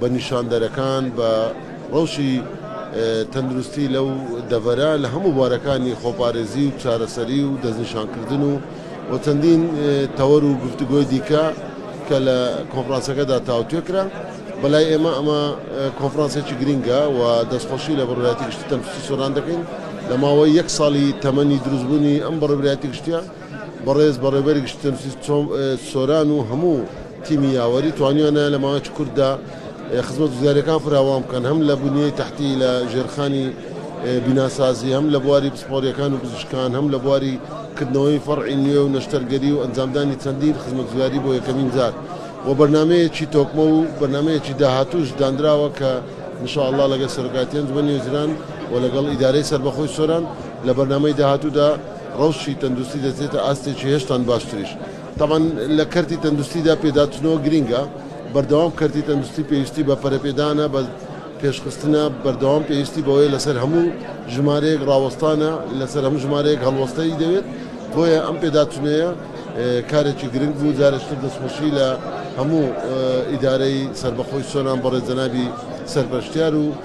بە نیشاندەرەکان، بە ڕەوشی تەندروستی لەو دەڤەرە لە هەموو بوارەکانی خۆپارێزی و چارەسەری و دەستنیشانکردن و و چەندین تەوەر و گفتوگۆی دیکە کە لە کۆنفرانسەکەدا تاوتوێ کرا. بەلای ئێمە ئەمە کۆنفرانسێکی گرینگە و دەستخۆشی لە بەڕێوەبەرایەتی گشتی تەندروستی سۆران دەکەین لە ماوەی یەک ساڵی تەمەنی دروستبوونی ئەم بەڕێوەبرایەتی گشتییە بەڕێز بەڕێوەبەری گشتی تەندروستی سۆران و هەموو تیمی یاوەری توانیانە لە ماوەیەکی کورتدا خزمەت گوزاریەکان فراوان بکەن هەم لە بنیەی تەحتی لە ژێرخانی بیناسازی هەم لە بواری پسپۆریەکان و پزیشکان هەم لە بواری کردنەوەی فەرعی نوێ و نەشتەرگەری و ئەنجامدانی چەندین خزمەتگوزاری بۆ یەکەمین جار و بەرنامەیەکی تۆکمە و بەرنامەیەکی داهاتووش داندراوە کە ان شاء اللە لەگەل سەرۆکایەتی ئەنجومەنی وەزیران و لەگەڵ ئیدارەی سەربەخۆی سۆران لە بەرنامەی داهاتوودا رەوشی تەندروستی دەچێتە ئاستێکی هێشتان باشتریش. تەبعەن لە کەرتی تەندوستیدا پێداچونەوە گرینگە بەردەوام کەرتی تەندوستی پێویستی بە پەرەپێدانە بە پێشخستنە بەردەوام پێویستی بەوەیە لەسەر هەموو ژمارەیەک ڕاوەستانە لەسەر هەموو ژمارەیەک هەڵوەستەی دەوێت بۆیە ئەم پێداچونەیە کارێکی گرنگ بوو جارێکتر دەستخۆشی لە هەموو ئیدارەی سەربەخۆی سۆران بەڕێز جەنابی سەرپەرشتیار و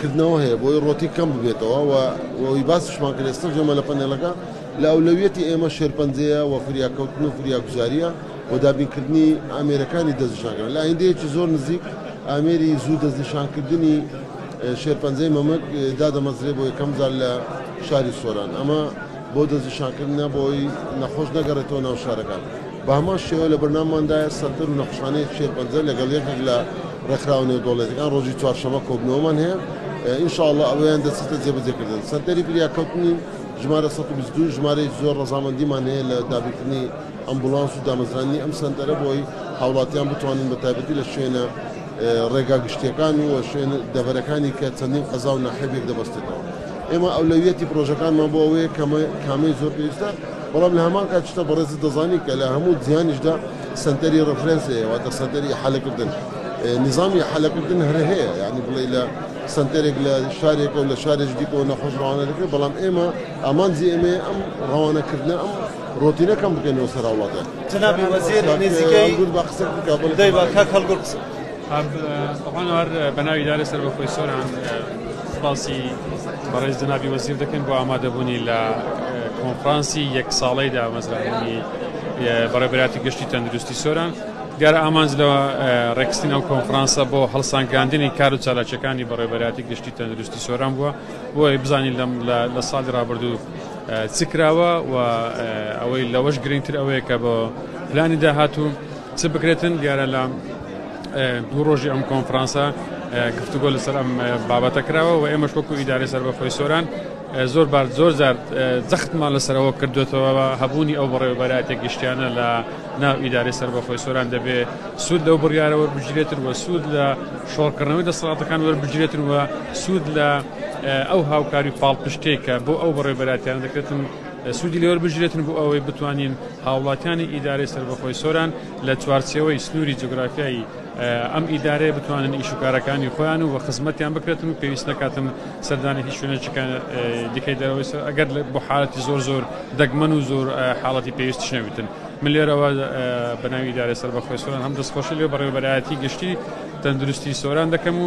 کردنەوە هەیە بۆی ڕۆتین کەم ببێتەوە و ئەوەی باسیشمان کرد ئێستا جەمە لە پەنێلەکە لە ئەولەویەتی ئێمە شێرپەنجەیە و فریاکەوتن و فریاگوزارییە و دابینکردنی ئامێرەکانی دەستنیشانکردن لە ئایندەیەکی زۆر نزیک ئامێری زوو دەستنیشانکردنی شێرپەنجەی مەمک دادەمەزرێت بۆ یەکەم جار لە شاری سۆران ئەمە بۆ دەستنیشانکردن نا بۆ ئەوەی نەخۆش نەگەڕێتەوە ناو شارەکان. بە هەمان شێوە لە بەرنامماندایە سەنتەر و نەخۆشخانەی شێرپەنجە لەگەڵ یەکێک لە ڕێکخراوە نێودەوڵەتیەکان ڕۆژی چوارشەممە کۆبوونەوەمان هەیە ان شاء اللە ئەوەیان دەچێتە جێبەجێکردن. سەنتەری فریاکەوتنی ژمارە سەد و بیست و دوو ژمارەیەکی زۆر ڕەزامەندیمان هەیە لە دابینکردنی ئەمبوڵانس و دامەزراندنی ئەم سەنتەرە بۆ ئەوەی هاوڵاتیان بتوانن بە تایبەتی لە شوێنە ڕێگا گشتیەکان و شوێن دەڤەرەکانی کە چەندین قەزا و ناحیە بێک دەبەستێتەوە. ئێمە ئەولەویەتی پڕۆژەکانمان بۆ ئەوەیە کە کامەی زۆر پێویستە، بەڵام لە هەمان کات چتە بەڕێزت دەزانی کە لە هەموو جیهانیشدا سەنتەری ڕفرێنس هەیە واتە سەنتەری ئیحالەکردن نیزامی ئیحالەکردن هەر هەیە یانی بڵێی لە سەنتەرێک لە شارێکە و لە شارێکی دیکەوە نەخۆش ڕەوانە دەکرێت بەڵام ئێمە ئامانجی ئێمەیە ئەم ڕەوانەکردنە ئەم ڕۆتینە کەم بکەینەوە سەر هاوڵاتیان جەنابی وەزیر نزیکەی گوور بە قسە بکە بڵێ دەی با کاک هەڵگوور قسە ئاب ئەوان هەر بە ناوی ئیدارەی سەربەخۆی سۆران سوپاسی بەڕێز جەنابی وەزیر دەکەین بۆ ئامادەبوونی لە کۆنفرانسی یەک ساڵەی دامەزرانی بەڕێبەراتی گشتی تەندروستی سۆران دیارە ئامانج لە ڕێکستین ئەو کۆنفرانسە بۆ هەڵسانگاندنی کار و چالاکیەکانی بەڕێبەراتی گشتی تەندروستی سۆران بووە بۆی بزانین لەم لە ساڵی ڕابردوو چکراوە و ئەوەی لەوەش گرنگتر ئەوەیە کە بۆ پلانی داهاتوو چ بکرێتن، دیارە لە دوو ڕۆژی ئەم کۆنفرانسە گفتوگۆ لەسەر ئەم بابەتە کراوە و ئێمەش وەکو ئیدارەی سەربەخۆی سۆران زۆر بار زۆر زار جەختمان لەسەرەوە کردوێتەوە هەبوونی ئەو بەڕێوەبەرایەتە گشتیانە لە ناو ئیدارەی سەربەخۆی سۆران دەبێ سوود لەو بڕیارە وەربگیرێتن وە سوود لە شۆڕکردنەوەی دەسەڵاتەکان وەربگیرێتن وە سوود لە ئەو هاوکاری پاڵپشتێکە بۆ ئەو بەڕێوەبەراتیان دەکرێتن سوودی لێوەربگیرێتن بۆ ئەوەی بتوانین هاوڵاتیانی ئیدارەی سەربەخۆی سۆران لە چوارچێوەی سنووری جوگرافیایی ئەم ئیدارەیە بتوانن ئیش و کارەکانی خۆیان و خزمەتیان بکرێتن و پێویست نەکاتن سەردانی هیچ شوێنێکی دیکەی دەرەوەی سۆران ئەگەر بۆ حاڵەتی زۆر زۆر دەگمەن و زۆر حاڵەتی پێویستیش نەبێتن من لێرەوە بە ناوی ئیدارەی سەربەخۆی سۆران هەم دەستخۆشی لێ بەڕێوەبەرایەتی گشتی تەندروستی سۆران دەکەم و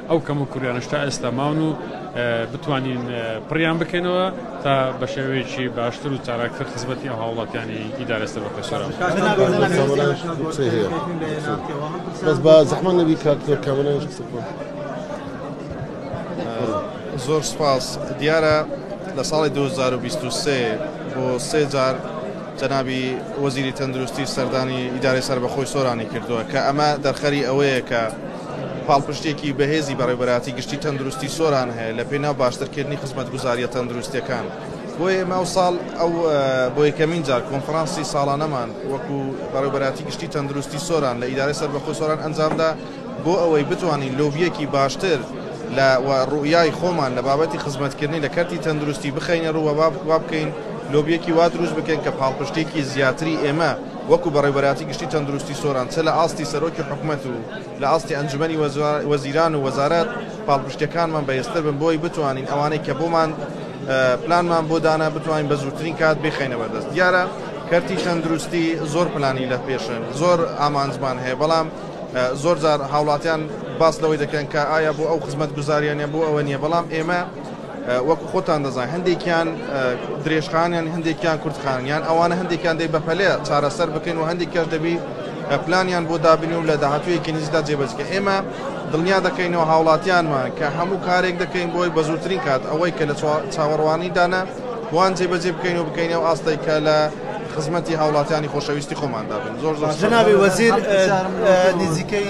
ئەو کەموکوڕیانەش تا ئێستا ماون و بتوانین پڕیان بکەینەوە تا بە شێوەیەکی باشتر و چالاکتر خزمەتی ئەو هاوڵاتیانی ئیدارە سەربەخۆی سۆران بەس بە زەحمە نەبی کاک زۆر کامەرانیش قسە بکەن زۆر سپاس دیارە لە ساڵی 2023 بۆ سێ جار جەنابی وەزیری تەندروستی سەردانی ئیدارەی سەربەخۆی سۆرانی کردووە کە ئەمە دەرخەری ئەوەیە کە پاڵپشتییەکی بەهێزی بەڕێوەبەرایەتی گشتی تەندروستی سۆران هەیە لە پێناو باشترکردنی خزمەتگوزارییە تەندروستییەکان، بۆیە ئێمە ئەوساڵ بۆ یەکەمین جار کۆنفرانسی ساڵانەمان وەکو بەڕێوەبەرایەتی گشتی تەندروستی سۆران لە ئیدارەی سەربەخۆی سۆران ئەنجامدا بۆ ئەوەی بتوانین لۆبییەکی باشتر و ڕوئیای خۆمان لە بابەتی خزمەتکردنی لە کەرتی تەندروستی بخەینەڕوو و وابکەین لۆبییەکی وا دروست بکەین کە پاڵپشتییەکی زیاتری ئێمە وەکو بەڕێوەبەرایەتی گشتی تەندروستی سۆران چ لە ئاستی سەرۆکی حکومەت و لە ئاستی ئەنجومەنی وەزیران و وەزارەت پاڵپشتیەکانمان بەهێزتر بن بۆی بتوانین ئەوانەی کە بۆمان پلانمان بۆ دانا بتوانین بە زووترین کات بیخەینە بەردەست دیارە کەرتی تەندروستی زۆر پلانی لە پێشن زۆر ئامانجمان هەیە بەڵام زۆر جار هاوڵاتیان باس لەوەی دەکەن کە ئایا بۆ ئەو خزمەت گوزاریانە بۆ ئەوە نییە بەڵام ئێمە وەکو خۆتان دەزانن هەندێکیان درێژخانیان هەندێکیان کورتخانن یان ئەوانە هەندێکیان دەی بەپەلەیە چارەسەر بکەین و هەندێکیش دەبی پلانیان بۆ دابنی و لە داهاتوویەکی نزیکدا جێبەجکە ئێمە دڵنیا دەکەینەوە هاوڵاتیانمان کە هەموو کارێک دەکەین بۆی بە زووترین کات ئەوەی کە لە چاوەڕوانی دانە وان جێبەجێ بکەین و بکەینەوە ئاستەی کە لە خزمەتی هاوڵاتیانی خۆشەویستی خۆماندا بن زۆر زۆر جنابی وەزیر نزیکەی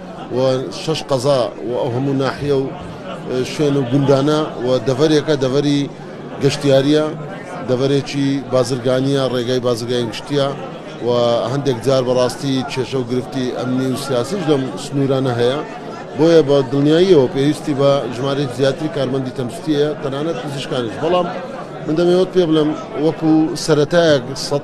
و شەش قەزا و ئەو هەموو ناحیە و شوێن و گوندانە و دەڤەرێکە دەڤەری گەشتیاریە دەڤەرێکی بازرگانیە ڕێگای بازرگانی گشتیە و هەندێک جار بەڕاستی کێشە و گرفتی ئەمنی و سیاسیش لەم سنوورانە هەیە بۆیە بە دڵنیاییەوە پێویستی بە ژمارەی زیاتری کارمەندی تەندروستیە تەنانەت پزیشکانیش بەڵام من دەمەوێت پێ بڵێم وەکو سەرەتایەک سەد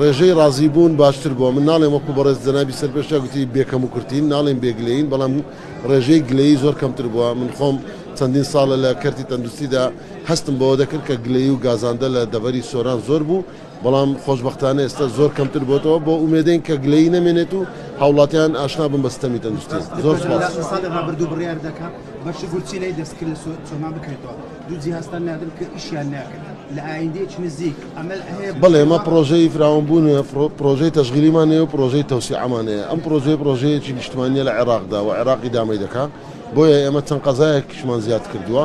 ڕێژەی ڕازی بوون باشتر بووە، من ناڵێم وەکو بەڕێز جەنابی سەرپێشرا گوتی بێ کەم و کورتین، ناڵێم بێ گلەیین، بەڵام ڕێژەی گلەیی زۆر کەمتر بووە، من خۆم چەندین ساڵە لە کەرتی تەندروستیدا هەستم بەوە دەکرد کە گلەیی و گازاندە لە دەڤەری سۆران زۆر بوو، بەڵام خۆشبەختانە ئێستا زۆر کەمتر بۆتەوە، بۆ ئومێدین کە گلەیی نەمێنێت و هاوڵاتیان ئاشنا بن بە سیستەمی تەندروستی. زۆر سوپاس. دوو جیهازتان ناردم کە ئیشیان ناکەن لە ئایندەیەکی نزیک ئەمەل هەیە؟ بەڵێ ئێمە پڕۆژەی فراوانبوون پڕۆژەی تەشغیلیمان هەیە و پڕۆژەی تەوسیعەمان هەیە ئەم پڕۆژەیە پڕۆژەیەکی نیشتمانییە لە عێراقدا و عێراقی دامەی دەکا بۆیە ئێمە چەند قەزایەکیشمان زیاد کردووە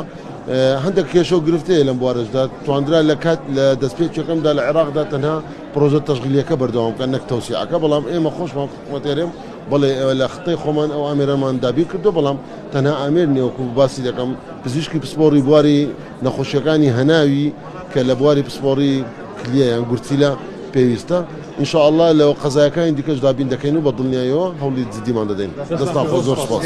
هەندێک کێشە و گرفت هەیە لەم بوارەشدا تواندرا لە کات لە دەستپێکیەکەمدا لە عێراقدا تەنها پڕۆژە تەشغیلیەکە بەردەوام بکەن نەک تەوسیعەکە بەڵام ئێمە خۆشمان حکومەتێرێم بەڵێ لە خطەی خۆمان ئەو ئامێرەمان دابین کردووە بەڵام تەنها ئامێر نیە وەکو باسی دەکەم پزیشکی پسپۆڕی بواری نەخۆشیەکانی هەناوی کە لە بواری پسپۆڕی کلیە یان گورچیلە پێویستە ان شاء اللە لە قەزایەکانی دیکەش دابین دەکەین و بە دڵنیایەوە هەوڵی جدیمان دەدەین دەستان خۆش زۆر سوپاس.